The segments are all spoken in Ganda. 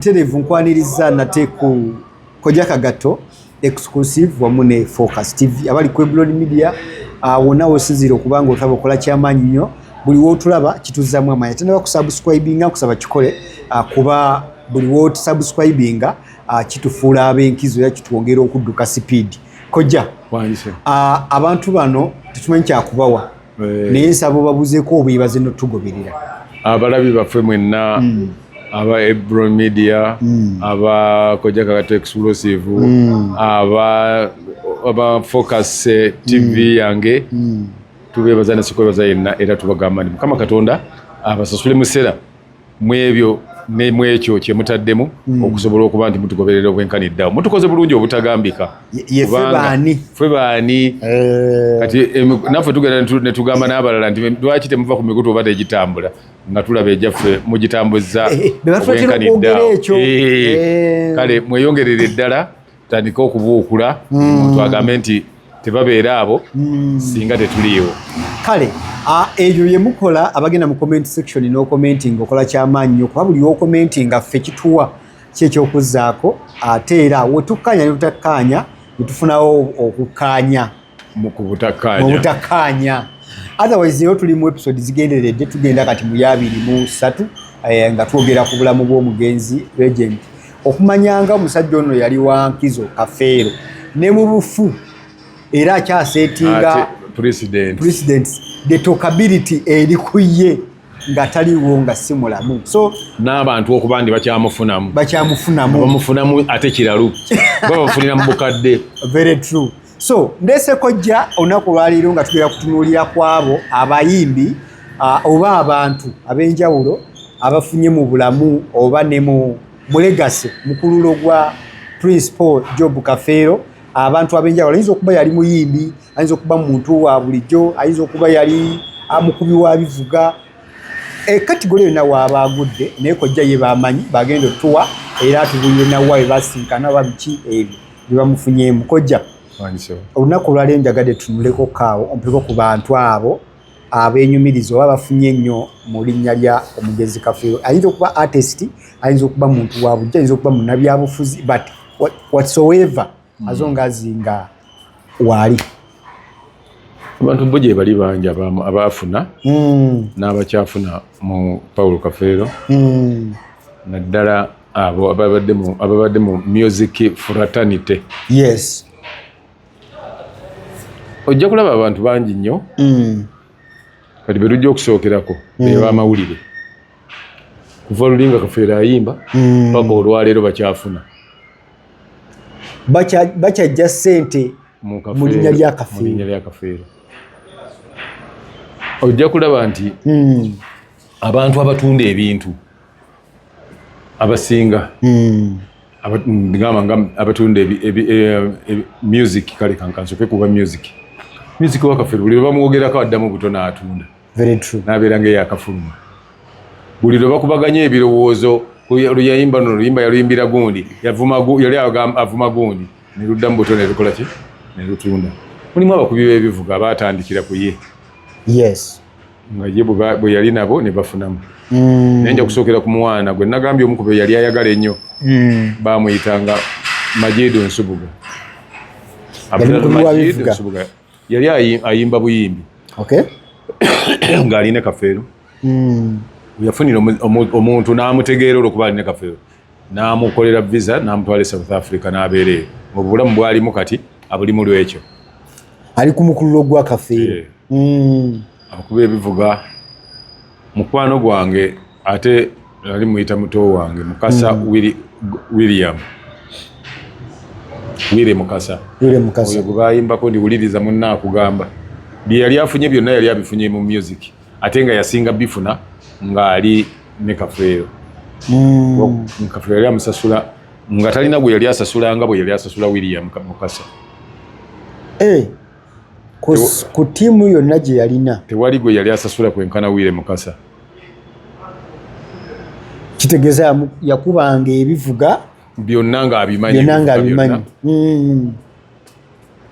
Terevu nkwanirizza nate ku koja kagatto exclusive wamu ne Focus TV abali ku Eblon Media ah, wonna wosinziira okuba nga otulaba okola kyamaanyi nnyo buli wootulaba kituzzaamu amaanyi ate naba kusubscribinga nkusaba kikole ah, kuba buli wotusubscribinga ah, kitufuula ab'enkizo era kitwongera okudduka sipiidi kojja abantu bano tetumanyi kyakubawa eh. naye nsaba obabuzeko obwebaze notugoberera abalabi baffe mwenna hmm. aba ebro media hmm. aba kojakakata explosive hmm. aba aba focus eh, tv yange tubebaza nasikwebaza yenna era tubagamba nti mukama katonda abasasule musera mwebyo ne mwekyo kye mutaddemu mm. okusobola okuba nti mutugoberera obwenkani eddawo mutukoze bulungi obutagambika fwe baani eh. kati naffe tugenda ne tugamba n'abalala nti lwaki temuva ku mikutu oba tegitambula nga tulaba egyaffe mugitambuzza eh, eh, obwenkani eddawo kale mweyongerere eddala tandika okubuukula omuntu mm. agambe nti tebabeera abo mm. singa tetuliiwo kale eyo yemukola abagenda mu comment section n'okomentinga okola kyamaanyi nyo kuba buli okomentinga ffe kituwa kyekyokuzaako ate era wetukkaanya ne tutakkaanya netufunawo okukkaanya mubutakkaanya otherwise yo tuli mu episode zigenderedde tugenda kati mu yabiri mu satu eh, nga twogera ku bulamu bw'omugenzi regent okumanyanga omusajja ono yali wa nkizo kafeero ne mu bufu era akyasetinga president the tokability eri ku ye nga taliwo nga si mulamu so n'abantu okuba ndi bakyamufunamu bakyamufunamu bamufunamu ate kiralu babafunira mu bukadde very true so ndese kojja olunaku olwaleero nga tugera kutunuulira kwabo abayimbi uh, oba abantu ab'enjawulo abafunye mu bulamu oba ne mu mulegasi mukululo gwa prince paul job kafeero abantu ab'enjawulo ayinza okuba yali muyimbi ayinza okuba muntu wa bulijjo ayinza okuba yali amukubi wa bivuga ekatigole eh, yonna waaba agudde naye kojja ye bamanyi bagenda otuwa era atubulire nawa bebasinkana oba biki ebyo byebamufunyeemu kojja olunaku olwali enjagade tunuleko kaawo ompeko ku bantu abo abenyumiriza oba bafunye nnyo mu linnya lya omugezi kafeero ayinza okuba artist ayinza okuba muntu wa bujja ayinza okuba munabyabufuzi but whatsoever hmm. azo nga azinga waali abantu bo gye bali bangi abaafuna hmm. n'abakyafuna mu pawulo kafeero hmm. naddala abo ababadde mu ababadde mu music fraternity yes ojja kulaba abantu bangi nnyo mm. kati berujja okusookerako mm. ebamawulire kuva lulinga kafeera ayimba mm. paka olwaleero bakyafuna bakyajja sente mu linnya lya kafeero ojja kulaba nti mm. abantu abatunda ebintu abasinga mm. ngamba nga abatunda eh, music kale kankansoke kuba music music wakafere buli lwebamwogerako addamu buto n'atunda nabeera nga eyakafuluma buli lwebakubaganya ebirowoozo luyayimba no luyimba yaluyimbira gundi yali avuma gundi neluddamu buto nelukolaki nelutunda mulimu abakubi b'ebivuga abatandikira ku ye yes nga ye bwe yali nabo ne bafunamu mm. naye nja kusookera ku mwana gwe nagambye omu kube yali ayagala ennyo mm. bamuyitanga majidu nsubuga abdalmajidusubuga yali ayimba buyimbi ng'ali ne kafeero mm. yafunira omuntu n'amutegeera olwokuba ali ne kafeero n'amukolera visa n'amutwala e south africa n'abeera eyo mu bulamu bwalimu kati abulimu lwekyo ali ku mukululo gwa kafeero eh. hmm. akuba ebivuga mukwano gwange ate nali muyita muto wange mukasa hmm. william wire mukasa oyo gwebayimbako ndiwuliriza munna akugamba byeyali afunye byonna yali abifunye mu music ate nga yasinga bifuna ng'ali ne kafeero hmm. kafeero yali amusasula nga talina gwe yali asasula nga bwe yali asasula william mukasa eh, ku tiimu yonna gye yalina tewali gwe yali asasula kwenkana wire mukasa kitegeeza yakubanga ebivuga byonna ng'abimanyi hmm.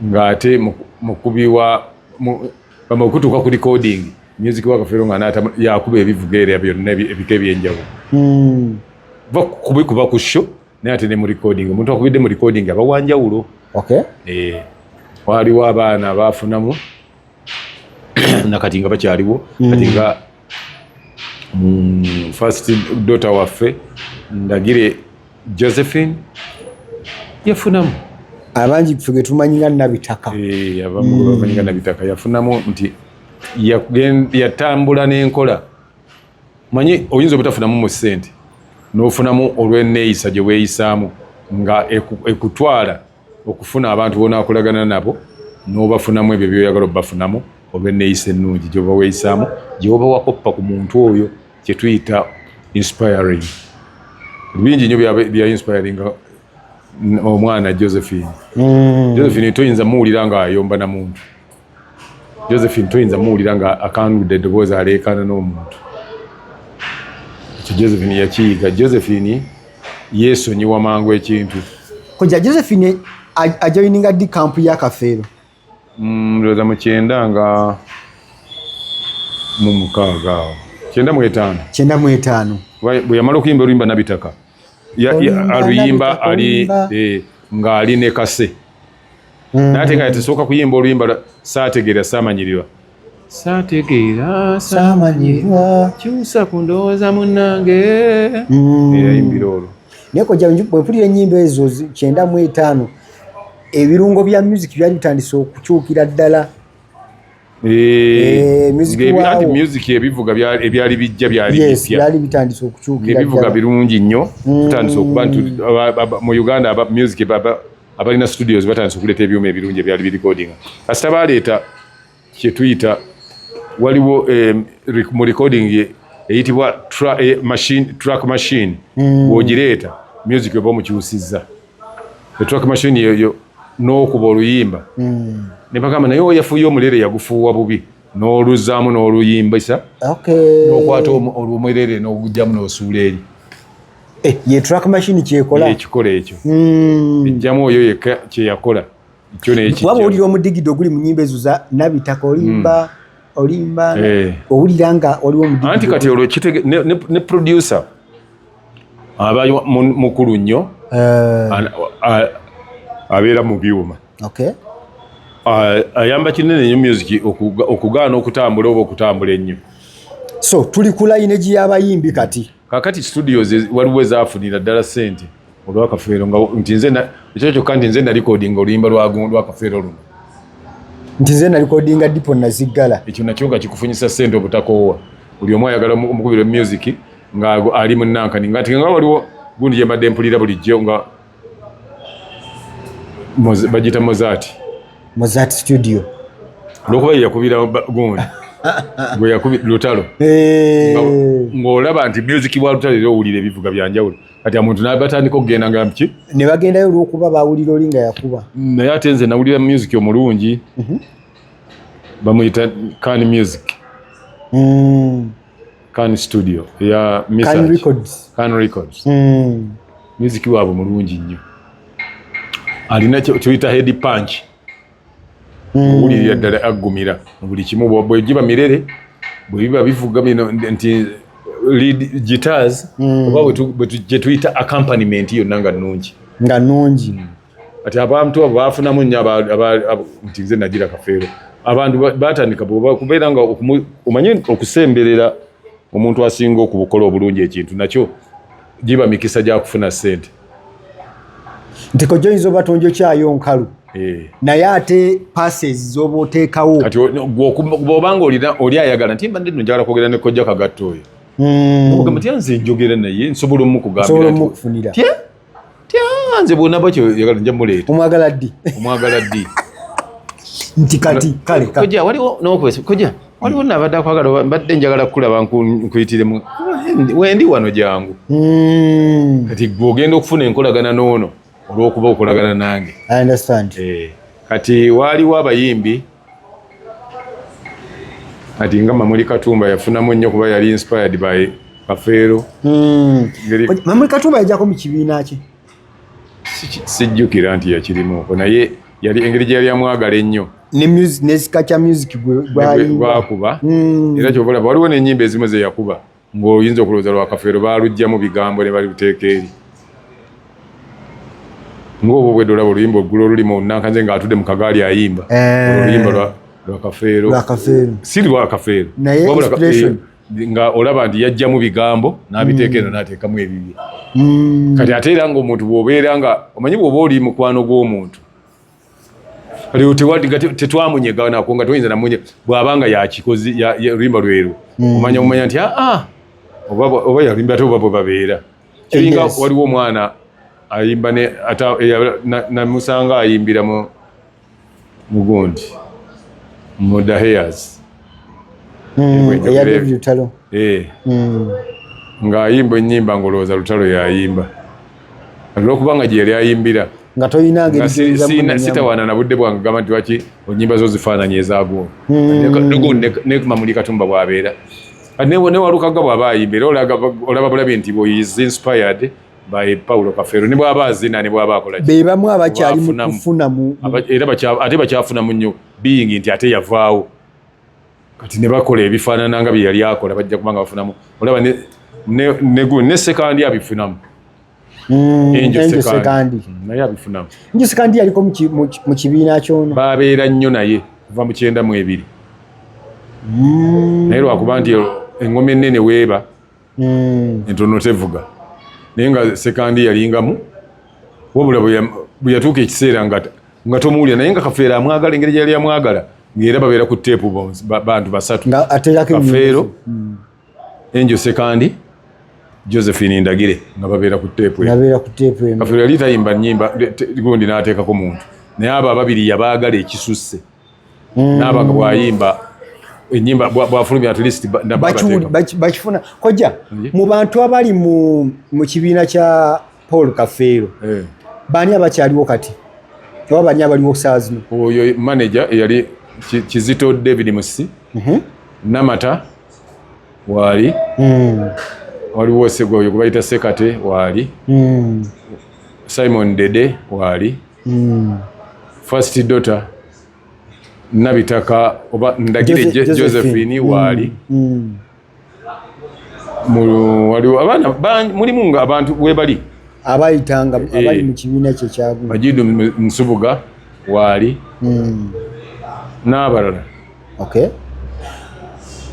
ng'ate mukubi wa okutuuka ku recording music wa kafeero nga naata yakuba ebivuga era byonna ebika ebyenjawulo hmm. va kubikuba ku sho naye ate ne mu recording omuntu akubidde mu recording aba wanjawulo eh, waliwo abaana baafunamu nakati nga bakyaliwo mm. kati nga mm, first dota waffe ndagire josephine yafunamu abangi fe getumanyi nga nabitaka eh, abamanyi nga mm. nabitaka yafunamu nti yatambula n'enkola manyi oyinza obutafunamu mu sente n'ofunamu olw'eneeyisa gye weeyisaamu nga ekutwala okufuna abantu bonakolagana nabo nobafunamu ebyo byoyagala obafunamu oba eneyisa ennungi gyoba weyisaamu gyoba wakoppa ku muntu oyo kyetuyita inspiring bingi nyo bya inspiring omwana josephine mm. josephine toyinza muwulira nga ayomba na muntu josephine toyinza muwulira nga akanudde eddoboozi aleekaana n'omuntu ekyo josephine yakiyiga josephine yeesonyiwa mangu ekintu koja josephine ajoyininga ddi kampu ya kafeero mm, ndowooza mu kyenda nga mu mukaaga awo kyenda mu etaano kyenda mu etaano bwe yamala okuyimba oluyimba nabitaka aluyimba ali eh, ng'ali ne kase mm. nate kati tusooka kuyimba oluyimba lwa saategeera saamanyirirwa saategeera saamanyirirwa kyusa ku ndowooza munnange mm. eyayimbira olwo naye kojja bwempulira ennyimba ezo kyenda mu etaano ebirungo bya music byali bitandise okukyukira ddala Eh, eh, music ebivuga ebyali bijja byali byali bitandise okukyukira ebivuga birungi nnyo mm. tutandise okuba nti mu Uganda aba music baba abalina studios batandise okuleeta ebyuma ebirungi ebyali bi recording kasita baleeta kye tuyita waliwo eh, mu recording eyitibwa machine track machine mm. wogireeta music oba omukyusizza etrack machine yeyo n'okuba oluyimba mm. ne bagamba naye oyafuye omulere yagufuuwa bubi n'oluzaamu n'oluyimbisa okay. n'okwata olwomwerere n'ogugyamu n'osuula eri eh, ye track machine kyekola ekikola ekyo mm. ejjamu oyo yekka kyeyakola ekyo nekijja waba owulira omudigido oguli mu nyimba ezo za nabitaka olimba mm. olimba eh. owulira nga waliwo omudigido anti kati olwo ne, ne, ne producer aba mukulu nnyo eh. abeera mu byuma ayamba kinene nyo music okugaana okutambula oba okutambula ennyo so tuli ku layineji y'abayimbi kati kakati studios waliwo ezafunira ddala sente olwakafeero nga nti nze ekyo kyokka nti nze nalikodinga oluyimba lwakafeero luno nti nze nalikodinga dipo naziggala ekyo nakyo nga kikufunyisa sente obutakoowa buli omu ayagala omukubira music nga ali mu nankani nga nga waliwo gundi gye mbadde mpulira bulijjo nga bagiyita mozati mozat studio olwokuba ye yakubira gundi gwe yakubi lutalo eh. ng'olaba nti music wa lutalo era owulira ebivuga byanjawulo kati amuntu nabatandika okugenda nga ki ne bagendayo olwokuba bawulira oli nga yakuba naye ate nze nawulira music omulungi mhm. bamuyita kan music hmm. Can Studio ya Mr. Can Records. Can Records. Mm. Muziki wabo mulungi nnyo. Alina kyoyita head punch. Mm. Uli ya dala agumira. Buli kimu bwa bwe jiba mirere. Bwe biba bivuga bino nti lead guitars. Mm. Oba bwe tu bwe tu jetuita accompaniment yo nanga nungi. Nga nungi. Mm. kati abantu abo bafunamu nnyo nti nze nagira kafeero abantu batandika kubeera nga omanye okusemberera omuntu asinga okubukola obulungi ekintu nakyo giba mikisa gyakufuna sente nti kojja oyinza oba tonjokyayo nkalu eh. naye ate passes zoba oteekawo kati obanga oli ayagala nti mbadde no njagala kwogera ne kojja kagatto oyo hmm. ogamba tya nze njogera naye nsobola omukugambira tyanze bwona bakyo yagala nja muleeta omwagala ddi omwagala ddi nti kati kale koja waliwo nokwesa koja waliwo mm. nabadde akwagala mbadde njagala kukulaba nkuyitiremu wendi wano jangu mm. kati gwe ogenda okufuna enkolagana noono olwokuba okolagana nange eh, kati waaliwo abayimbi ati nga mamuli katumba yafunamu nnyo kuba yali inspired by kafeero hmm. mamuli katumba yajako mu kibiina kye sijjukira nti yakirimuko naye yali engeri gye yali amwagala ennyo nesika kya music gwakuba hmm. era kyobalaba waliwo nenyimba ezimu zeyakuba Ng'oyinza okulowooza lwa Kafeero baaluggyamu bigambo ne baluteeka eri. Ng'obwo obwedda olaba oluyimba olugula olulima olunankanze ng'atudde mu kagaali ayimba. Eh. Oluyimba lwa lwa Kafeero. Lwa Kafeero. Si lwa Kafeero. Naye inspiration. Eh, nga olaba nti yajjamu bigambo n'abiteeka eno mm. n'ateekamu ebibye. Mm. Kati ate era ng'omuntu bw'obeera nga omanyi bw'oba oli mukwano gw'omuntu kati tewadi nga tetwamunyega nako nga toyinza namunye bwaba nga yakikozi limba lweru hmm. omanya omanya nti aa ah, ah, oba yalimba ate oba bwebabeera kiringa waliwo omwana ayimba namusanga ayimbira mu mugundi mu the hairs hmm, eh. hmm. ng'ayimba ennyimba ng'olowooza lutalo yayimba olwokuba nga gyeyali ayimbira nga tolina ngerisitawaana na budde bwange gamba nti waki onyimba zo zifaananyi ezaguno hmm. nekumamuli katumba bwabeera newalukaga bwaba ayimba era olaba bulabi nti is inspired by paulo kafero nebwaba azina nebwaba akolabebamu abakyali mukufunamu era ate bakyafunamu nnyo biyingi nti ate yavaawo kati ne bakola ebifaanana nga bye yali akola bajja kubanga bafunamu olaba ne sekandi abifunamu hmm, naye abifunamu njo sekandi yaliko mu kibiina kyono babeera nnyo naye kuva mu kyenda mu ebiri hmm. naye lwakuba nti engoma ennene weeba hmm. entono tevuga naye nga sekandi yalingamu wabula bwe yatuuka ekiseera nga tomuwulira naye nga kafeero amwagala engeri gyeyali amwagala ngaera babeera ku teepu bantu basatu kafeero hmm. enjo sekandi josephine ndagire nga babeera ku teepu kafeero yali tayimba nyimba gundi n'ateekako muntu naye abo ababiri yabaagala ekisusse mm. naaba nga bwayimba enyimba bwafulumya at least bakifuna kojja mu bantu abali mu kibiina kya paul kafeero eh. baani abakyaliwo kati oba baani abaliwo saa zino oyo manaja eyali kizito david musi mhm. namata waali hmm. waliwo segwa oyo gwebayita sekate waali hmm. simon dede waali mm. first daughter nabitaka oba ndagire josephine mm. waali mm. waliwo abaana mulimu nga abantu webali abayitanga eh. abali mu kibiina kye kyagu majidu nsubuga waali mm. n'abalala okay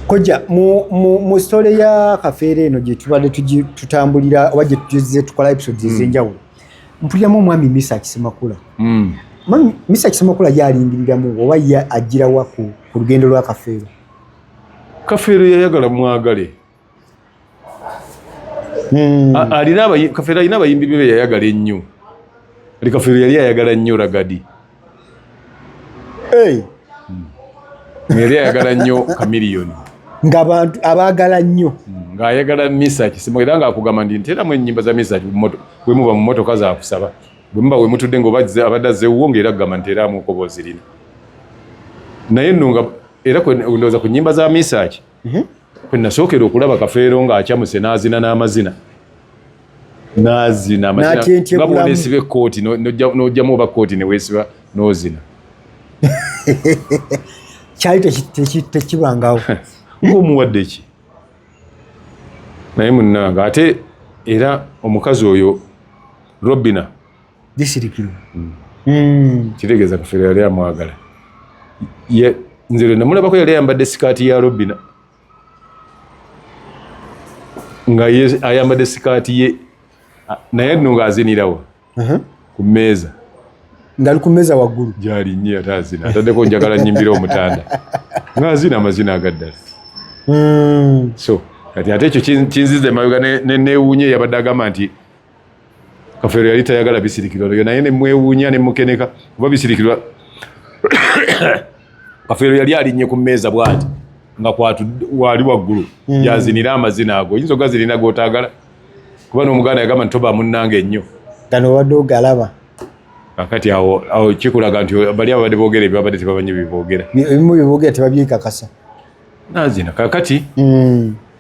koja mu, mu, mu story ya kafeere eno gyetubadde tutambulira oba gyetuze tukola episodes ezenjawulo mm. mpuliramu omwami misa kisemakula mm. mami misa kisemakula yalingiriramu oba ye ajjirawa ku lugendo lwa kafeero kafeero yayagala mwagale hmm. alina kafeero alina abayimbi bebe yayagala ennyo ali kafeero yali ayagala nnyo ragadi Hey. Hmm. Yali ayagala nnyo kamiliyoni ng'abantu abaagala nnyo hmm, ng'ayagala misaki simu era ng'akugamba ndi nteramu ennyimba za misaki bwe muba mu motoka zakusaba bwe muba we mutudde ng'oba abadde azzeewuwo ng'era kugamba nteramu okoboozi lino naye nno nga era ndowooza ku nnyimba za misaki mhm. kwe nasookera okulaba kafeero ng'acamuse n'azina n'amazina n'azina nga bw'oneesiba ekkooti n'ojjamu oba kkooti ne weesiba n'ozina kyali tekibangawo ng'omuwadde ki naye munnanga ate era omukazi oyo robina Disirikirwa. Mm. Mm. Kitegeeza kufera yali amwagala. Ye nze lwe namulabako yali ayambadde sikaati ya Robina. Nga ye ayambadde sikaati ye naye nno ng'azinirawo uh-huh. ku mmeeza. Ngali ku mmeeza waggulu. Gyali nnyo ate azina ataddeko njagala nnyimbira omutanda. Ng'azina amazina agaddala. Mm. So kati ate ekyo kinziza emabega ne neewuunya eyabadde agamba nti kafeero yali tayagala bisirikirwa lyo naye nemwewuunya nemukeneka kuba bisirikirwa kafeero yali alinnye ku mmeeza bwati nga kwatwali waggulu hmm. yazinira amazina ago oyinza ogazirina gotagala kuba n'omuganda yagamba nti toba munnange ennyo gano obadde ogalaba kakati awo awo kikulaga nti bali ababadde boogera ebyabadde tebamanyi bibogera ebimu bibogera tebabyekakasa nazina kakati mm.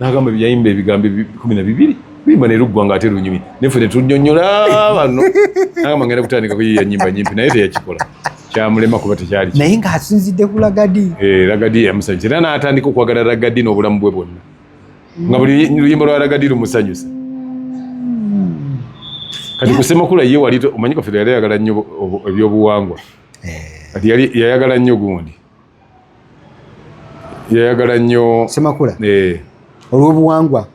n'agamba yayimba ebigambo kumi na bibiri bimba ne luggwa ng'ate lunyumi naye ffe tetunyonyola bano n'agamba ngenda kutandika kuyiya nyimba nyimpi naye teyakikola kyamulema kuba tekyali naye ng'asinzidde ku lagadi eh, lagadi yamusanyusa era n'atandika okwagala lagadi n'obulamu bwe bwonna nga buli luyimba lwa lagadi lumusanyusa kati kusemakula ye wali omanyi kaffe yali ayagala nnyo ebyobuwangwa eh. kati yali yayagala nnyo gundi yayagala nnyo semakula eh. olwobuwangwa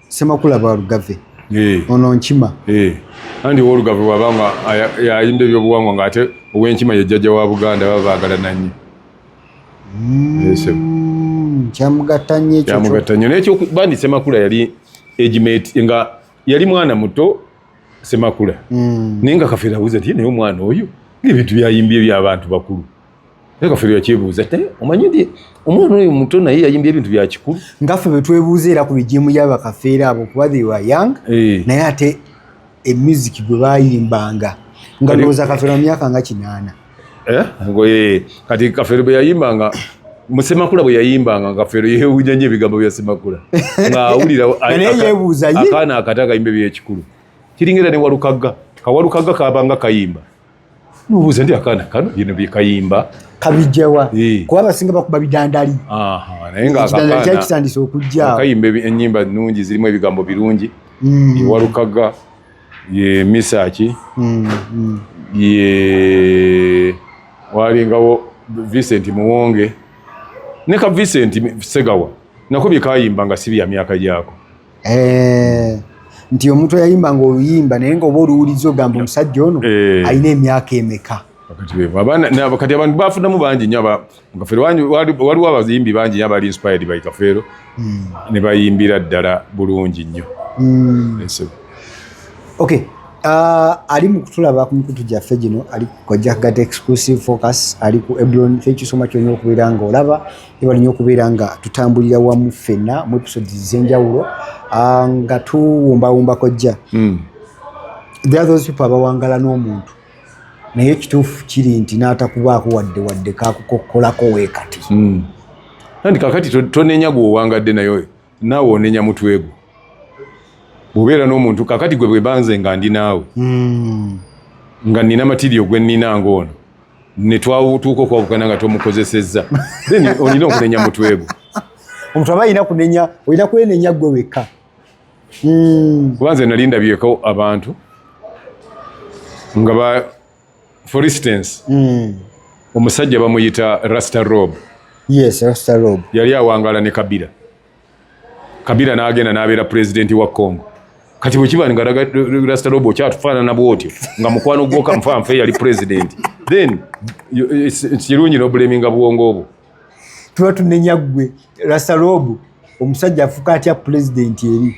semakula balugave eh. ono nkima eh. andi wolugave wabanga yayimba ebyobuwangwa nga ate owenkima yejjaja wa buganda baba bagala nanyo mm, kyamugatta nyo nekyo bandi semakula yali egimet nga yali mwana muto semakula mm. naye nga kafeera buza ti naye omwana oyo ngaebintu byayimbye ebyabantu bakulu naye kaffe yakyebuuza te omanyi nti omwana oyo muto naye yayimbye ebintu bya kikulu ngaffe betwebuuza era ku bijimu yabakafeera abo kuba they were young eh. naye ate emuziki gwe bayimbanga nga ndowooza kafeero mu myaka nga kinaana eh? eh, kati kafeero bwe yayimbanga musemakula bwe yayimbanga ngafeero yewunya nyo ebigambo bya semakula ngaawulira akaana akata kayimba ebyekikulu kiringa era ne walukagga kawalukagga kabanga kayimba nubuuza ndi akaana kano bino byekayimba kabijjawa eh. kuba abasinga bakuba bidandali naye ngaakitandise okujja kayimba enyimba nungi zirimu ebigambo birungi mm. ewalukaga ye misaki mm, mm. ye walingawo vincent muwonge ne ka vincent segawa nako byekayimba nga si bya myaka gyako eh, nti omuntu yayimba nga oluyimba naye nga oba oluwuliza ogamba omusajja ono eh. alina emyaka emeka kati abantu bafunamu bangi nyo kafeero waliwo abayimbi bangi nyo abali inspired by kafeero hmm. ne bayimbira ddala bulungi nnyo hmm. okay Uh, ali mu kutulaba ku mikutu gyaffe gino ali ku kojja kugata exclusive focus ali ku ebron thank you so much olina okubeera nga olaba Ebali nyo kubeera nga tutambulira wamu ffenna mu episode z'enjawulo ah, nga tuwumbawumba kojja hmm. there are those people abawangala n'omuntu naye ekituufu kiri nti n'atakubaako wadde wadde kakukokkolako weekati hmm. anti kakati tonenya gweowangadde naye oyo naawe onenya mutwegwo bwobeera n'omuntu kakati gwe bwebanze nga ndi naawe hmm. nga nina matirio gwe nina ngaono ne twatuuka okwawukana nga tomukozesezza then olina okunenya mutwe gwo omuntu aba alina kunenya olina kwenenya gwe wekka hmm. kuba nze nali ndabyeko abantu nga ba for instance hmm. omusajja bamuyita rasta rob yes rasta rob yali awangala ne kabira kabira n'agenda n'abeera pulezidenti wa congo kati bwe kiba nga rasita lobo okyatufaanana bwotyo nga mukwano gwoka nfanfa eyali pulezidenti then kirungi nobuleminga bwongo obwo tuba tunenya ggwe rasita lobo omusajja afuka atya pulezidenti eri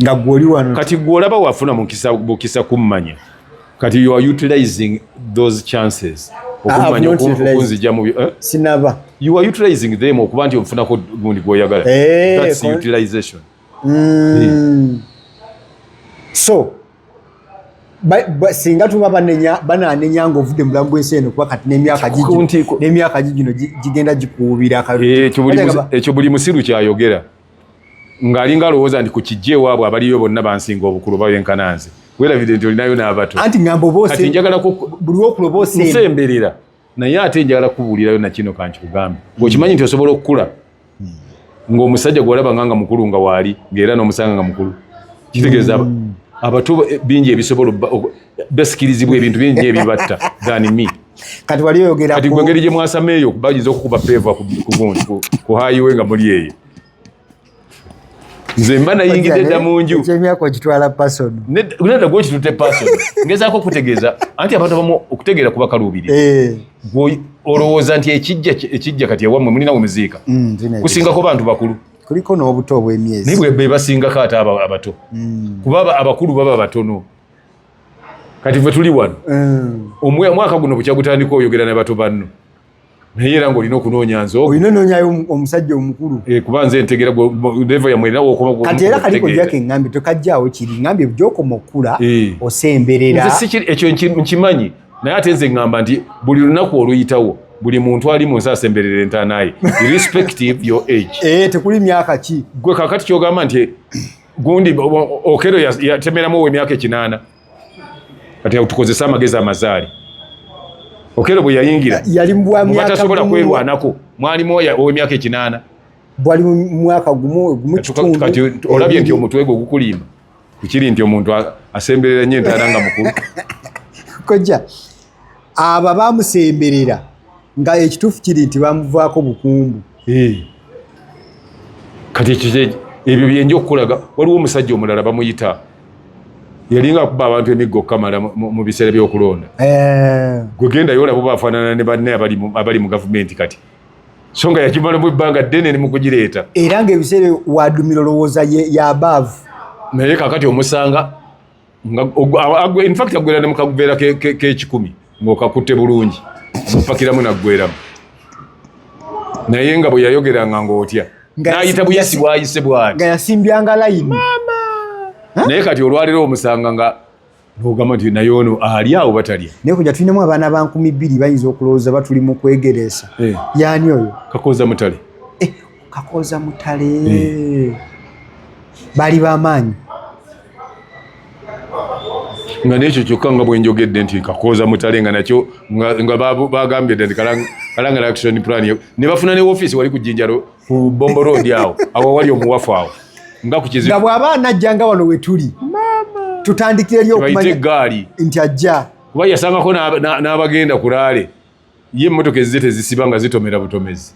nga gwoli wano kati gweolaba wafuna mukisa kummanya kati you are utilizing those chances okumanya okunzija mu eh? sinaba you are utilizing them okuba nti ofunako gundi gwoyagala eh, that's utilization mm. so singa tuba banenya bananenya nga ovudde mubulamu bwensi eno kuba kati nemyaka gigino gigenda gikuubira eh, ekyo buli musiru kyayogera ng'alinga alowooza nti ku kijja ewaabwe abaliyo bonna bansinga obukulu oba benkana nze weerabidde nti olinayo n'abato anti ŋamba obaokati njagala buli wokulo bosensemberera naye ate njagala kubuulirayo nakino kankikugambe ng'okimanyi nti osobola okukula ng'omusajja gwalaba nga nga mukulu nga waali ng'era n'omusanga nga mukulu kitegeeza hmm. abato bingi ebisobola basikirizibwa ebintu bingi ebyo batta than me kati wali oyogera kati gwe ngeri gye mwasama eyo bayinza okukuba peeva ku hayiwe nga muli eyo nze mba nayingidde dda mu nju ekyemyaka okitwala pason nedda gwe okitute pason ngezaako okutegeeza anti abantu abamu okutegeera kuba kaluubirira eh. olowooza nti ekijja ekijja kati ewammwe mulina wemuziika mm, kusingako bantu bakulu kuliko n'obuto obw'emyezi naye bwe basingako ate abato mm. kuba abakulu baba batono kati fe tuli wano mm. omwaka guno bukya gutandika oyogera ne bato banno naye era ngaolina okunoonya nze olina onoonyayo omusajja omukulu eh, kuba nze ntegera levo yamwerinawokati era kaliko jako engambi tokajjaawo kiri ngambi gyokoma okukula eh. osemberera ekyo nkimanyi naye ate nze ngamba nti buli lunaku oluyitawo buli muntu ali munsi asemberera entanaye irrespective your age eh, tekuli myaka ki gwe kakati kyogamba nti gundi okero yatemeramu owe myaka ekinana kati tukozesa amagezi amazaali okero bwe yayingira yalimbwamyakatasobola kwerwanako mwalimu owe myaka ekinana bwali mwaka gumu gumu kitundu kati olabye nti omutwe gwo gukulimba kukiri nti omuntu asemberera nyo entana nga mukulu kojja abo abamusemberera nga ekituufu kiri nti bamuvaako bukumbu kati ekyo ebyo byenja okukulaga waliwo omusajja omulala bamuyita yalinga akuba abantu emiggo okukamala mu biseera byokulonda eh. gwe gendayo olaba oba afaanana ne banne abali mu gavumenti kati so nga yakimala mu ebbanga ddene ne mukugireeta era ngaebiseera wadumira olowooza yabaavu naye kakati omusanga infact agwera ne mukaguveera kekikumi ngaokakutte bulungi mupakiramu naggweramu naye nga bwe yayogeranga ngaotya nayita buyisi bwayise bwati yasimbyanga layini naye kati olwaliro omusanga nga nogamba nti naye ono ali awo batalya naye kuja tulinamu abaana ba nkumi bbiri bayinza okulowooza batuli mu kwegereesa eh. yani oyo kakoza mutale kakooza mutale eh. bali bamaanyi nga nekyo kyokka nga bwenjogedde nti kakooza mutale nga nakyo nga bagambye dda nti kalangala action plan ne bafuna ne ofiisi wali ku jinjalo ku bombo road awo awo wali omuwafu awo nga ku kizibu nga bw'aba anajja nga wano wetuli tutandikire eri okumanya nti ajja kuba yasangako n'abagenda kulaale ye emmotoka ezze tezisiba nga zitomera butomezi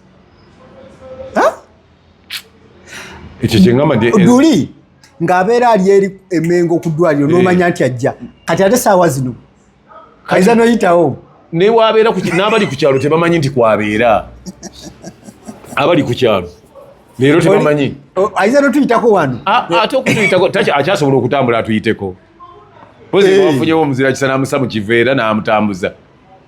ekyo kyengamba nti duli ng'abeera ali eri emengo ku ddwaliro eh. n'omanya nti ajja kati ate saawa zino kaiza noyitawo naye wabeera n'abali ku kyalo tebamanyi nti kwabeera abali ku kyalo leero tebamanyi aiza notuyitako wano ate okutuyitako akyasobola okutambula atuyiteko pozi eh. wafunyewo omuzira kisa namusa mu kiveera n'amutambuza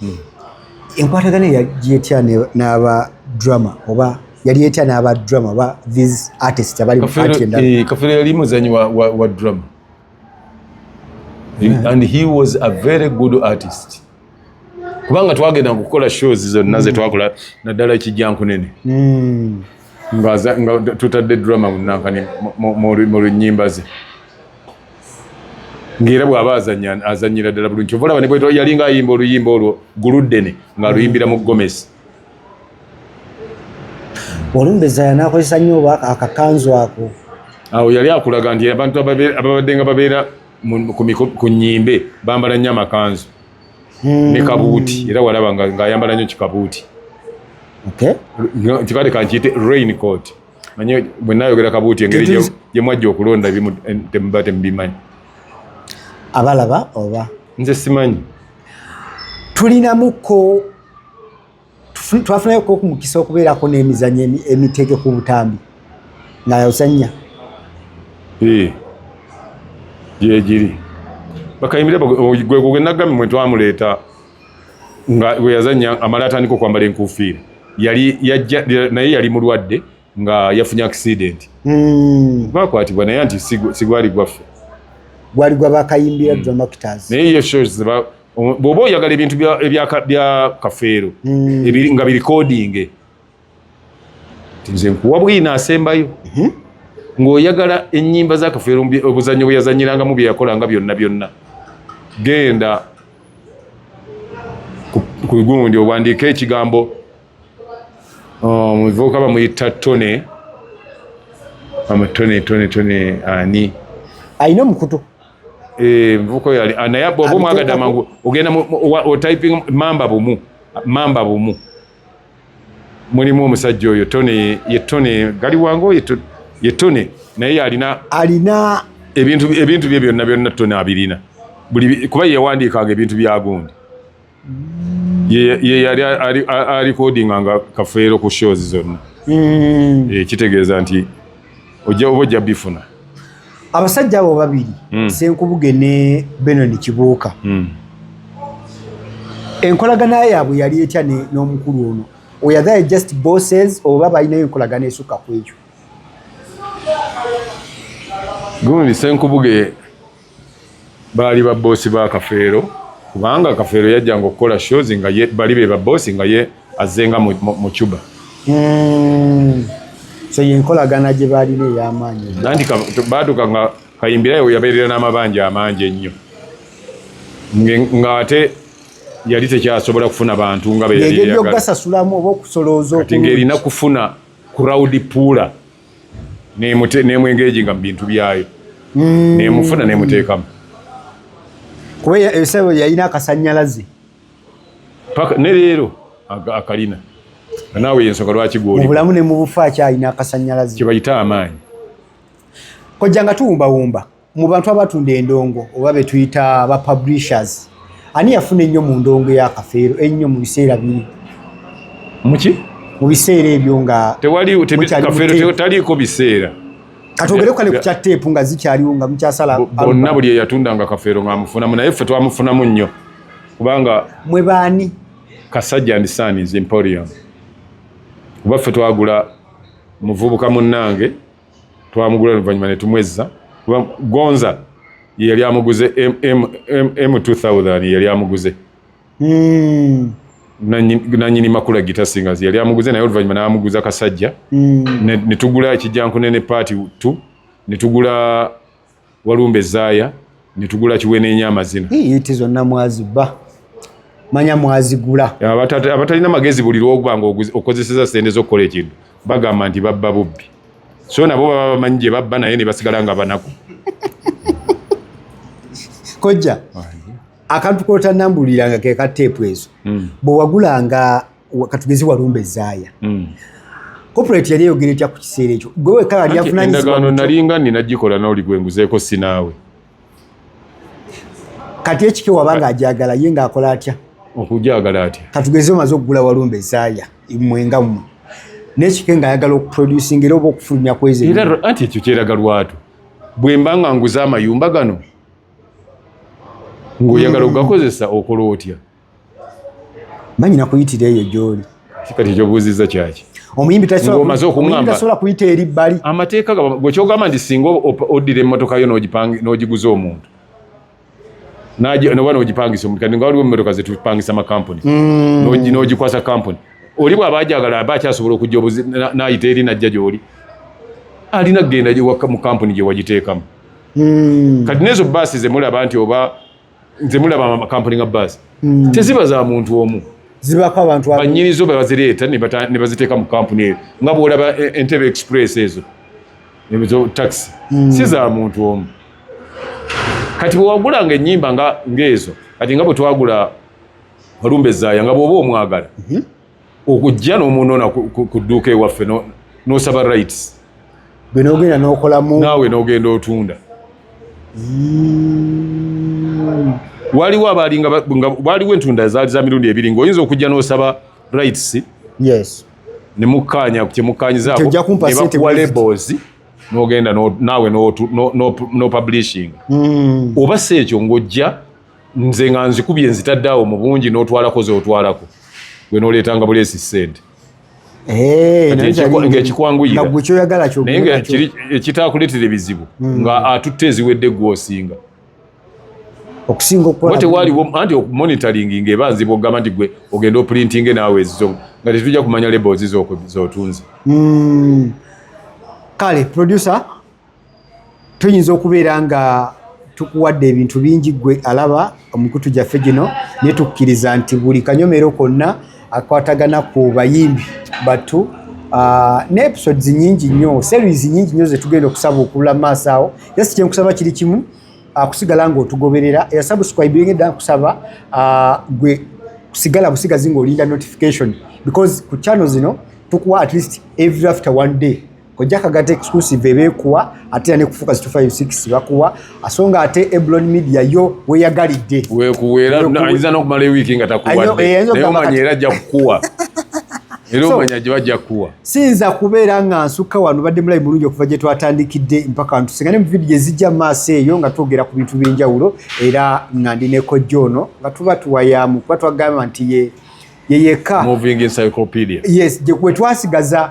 hmm. enkwatagana yetya n'aba drama oba yali etya n'aba drama oba these artist abali eh, kafeero yali muzanyi wa drama hmm. and he was a very good artist kubanga twagenda kukola shows zonna mm. zetwakola naddala ekijjankunene mm. nga tutadde drama munankani mu lunyimba ze ng'era bw'aba azanya azanyira ddala bulungi kyova olaba nebweta yalinga ayimba oluyimba olwo guluddene ng'aluyimbira mu gomesi olumbeza yanakozesa nnyo oba akakanzu ako awo yali akulaga nti abantu ababadde nga babeera ku nyimbe bambala nnyo amakanzu hmm. ne kabuuti era walaba ng'ayambala nnyo kikabuuti kikale kankiyite rain court manye bwe nayogera kabuuti engeri gye mwajja okulonda ebimu eh, temuba temubimanyi abalaba oba nze simanyi tulinamuko twafunayo kokumukisa okubeerako n'emizanyo emitege ku butambi nga yozannya gyegiri bakayimire gwegugenagamwe twamuleeta nga bwe yazannya amala atandika okwambala enkuufiira yali yajja naye yali mulwadde nga yafunye akisidenti hmm. bakwatibwa naye nti sigwali gwaffe gwali gwa bakayimbira hmm. dramactors naye ye shows bw'oba oyagala ebintu bya kafeero hmm. nga birikodinge nze nkuwa bwino asembayo mhm. ng'oyagala ennyimba zakafeero obuzannyo bwe yazanyirangamu bye yakolanga byonna byonna genda ku gundi owandiika ekigambo oh, muvubuka bamuyita tone amutone tone tone ani alina omukutu eh, muvubuka oyo ah, naye oba omwagadde amangu ogenda otyping mamba bumu mamba bumu mulimu omusajja oyo tone ye tone gali wango ye tone naye alina alina ebintu ebintu bye byonna byonna tone abirina buli kuba yewandiikanga ebintu byagundi ye yali alikodinganga kafeero ku shows zonna hmm. eh, kitegeeza nti ojja oba ojja bifuna abasajja abo babiri mm. senkubuge ne benoni kibuuka mm. enkolagana yaabwe yali etya n'omukulu ono weyathe just bosses oba balinayo enkolagana esukka ku ekyo gundi senkubuge baali ba boss ba kafeero kubanga kafeero yajjanga okukola shows nga ye bali be ba boss nga ye azenga mu, mu, mu cuba mm. so yenkolagana gye baalina ey'amaanyi nanti baatuka nga kayimbirayo yabeerera n'amabanja amangi ennyo ng'ate yali tekyasobola kufuna bantu nga beyali eyagala oba okusolooza kati ng'erina kufuna crowd puula nemwengeejinga mu bintu byayo mm. nemufuna nemuteekamu kuba ebisebo yalina akasanyalaze ne leero akalina naawe yensonga lwaki gwolibulamu ne mu bufa akyalina akasanyalaze kyebayita amaanyi kojja nga tuwumbawumba mu bantu abatunda endongo oba be tuyita ba publishers ani yafuna ennyo mu ndongo ya kafeero ennyo mu biseera biri muki mu biseera ebyo nga tewali taliiko biseera katwogere kale ku kya teepu nga zikyaliwo nga mukyasala bonna buli eyatundanga kafeero ng'amufunamu naye ffe twamufunamu nnyo kubanga mwe baani kasajja ndi saniz emporium kuba ffe twagula muvubuka munnange twamugula oluvanyuma netumwezza kuba gonza yeyali amuguze m2000 yeyali amuguze hmm. nanyini makula gita singers yali amuguze naye oluvanyuma namuguza kasajja hmm. netugula ekijjankunene paati t netugula walumbe zaya netugula kiwenenya amazina yiti zonna mwaziba manya mwazigula abatalina magezi buli lwokubanga okozeseza sente zokukola ekintu bagamba nti babba bubbi so nabo baba bamanyi gye babba naye ne basigala nga banaku kojja akantu kotanambuliranga ke ka teepu ezo hmm. bwe wagulanga katugezi walumba ezaaya hmm. corporate yali eyogera etya ku kiseera ekyo gwe wekka yali avunanyizibwaendagaano nalinga nina gikola nawuli gwe nguzeeko sinaawe kati ekike waba nga ajagala ye ngaakola atya okujagala atya katugeze omaze okugula walumba ezaaya mwenga mwe nekike ngaayagala okuproducinga era oba okufulumya kwezi anti ekyo kyeraga lwatu bwemba nga nguze amayumba gano ngaoyagala hmm. okugakozesa okola otya banyina kuyitira eyo gyoli kikati ekyobuuzizza kyaki omuyimbi tasobola kuyita eri bbali amateeka gwekyogamba nti singa oddira emmotoka yo n'ogiguza omuntu noba nogipangisa omuntu kati nga waliwo emmotoka zetupangisa makampuni mm. nogikwasa kampuni oli bwaba ajagala aba akyasobola okujja obuzi nayita eri najja gyoli alina kugenda mu kampuni gyewagiteekamu mm. kati nezo baasi zemulaba nti oba nze mulaba amakampuni nga baasi hmm. teziba za muntu omu zibako abantu banyini zo bebazireeta ne baziteeka mu kampuni eyo nga bwolaba e, entebe express ezo taxi hmm. si za muntu omu kati bwewagulanga ennyimba ngaezo kati nga bwe twagula olumbe zaaya nga bwoba omwagala mhm. okujja nomunona kuduuka ewaffe nosaba rights bwenogenda nokolamu naawe nogenda otunda mm. waliwo abalinga waliwo entunda zaali za mirundi ebiri nga oyinza okujja nosaba rights yes nemukkaanya kyemukkaanyizanebakuwa labels nogenda naawe no publishing mm. oba si ekyo ng'ojja nze nga nzikubye nzitadde awo mu bungi n'otwalako z'otwalako gwe n'oleetanga buleesi ssente eh, ng'ekikwanguyira naye nga ekitaakuleetera ebizibu hmm. nga atutte eziwedde gw'osinga okusingaotewaliwo anti okumonitoringi ngaeba nzibu okugamba nti gwe ogenda opulintinge naawe ezizo nga tetujja kumanya labels zotunze hmm. kale producer tuyinza okubeera nga tukuwadde ebintu bingi gwe alaba omukutu gyaffe gino naye tukkiriza nti buli kanyomero konna akwatagana ku bayimbi batu ah, ne episodes nyingi nnyo series nyingi nnyo zetugenda okusaba okubula mu maaso awo jasi kyenkusaba kiri kimu ah, kusigala ngaotugoberera era subscribing edda nkusaba ah, gwe kusigala busigazi ngaolinda notification because ku channel zino tukuwa at least every after one day kojja kagata exclusive ebekuwa ate ne kufuka 256 bakuwa asonga ate Eblon Media yo weyagalidde wekuwera ayinza no kumala wiki nga takuwa eh, naye omanya era ajja kukuwa era omanya gye bajja kukuwa siyinza kubeera nga nsukka wano badde mulayi mulungi okuva gye twatandikidde mpaka ntusingane mu vidiyo ezijja maaso eyo nga twogera ku bintu by'enjawulo era nga ndi ne kojja ono nga tuba tuwayamu kuba twagamba nti ye yeyeka yes gye twasigaza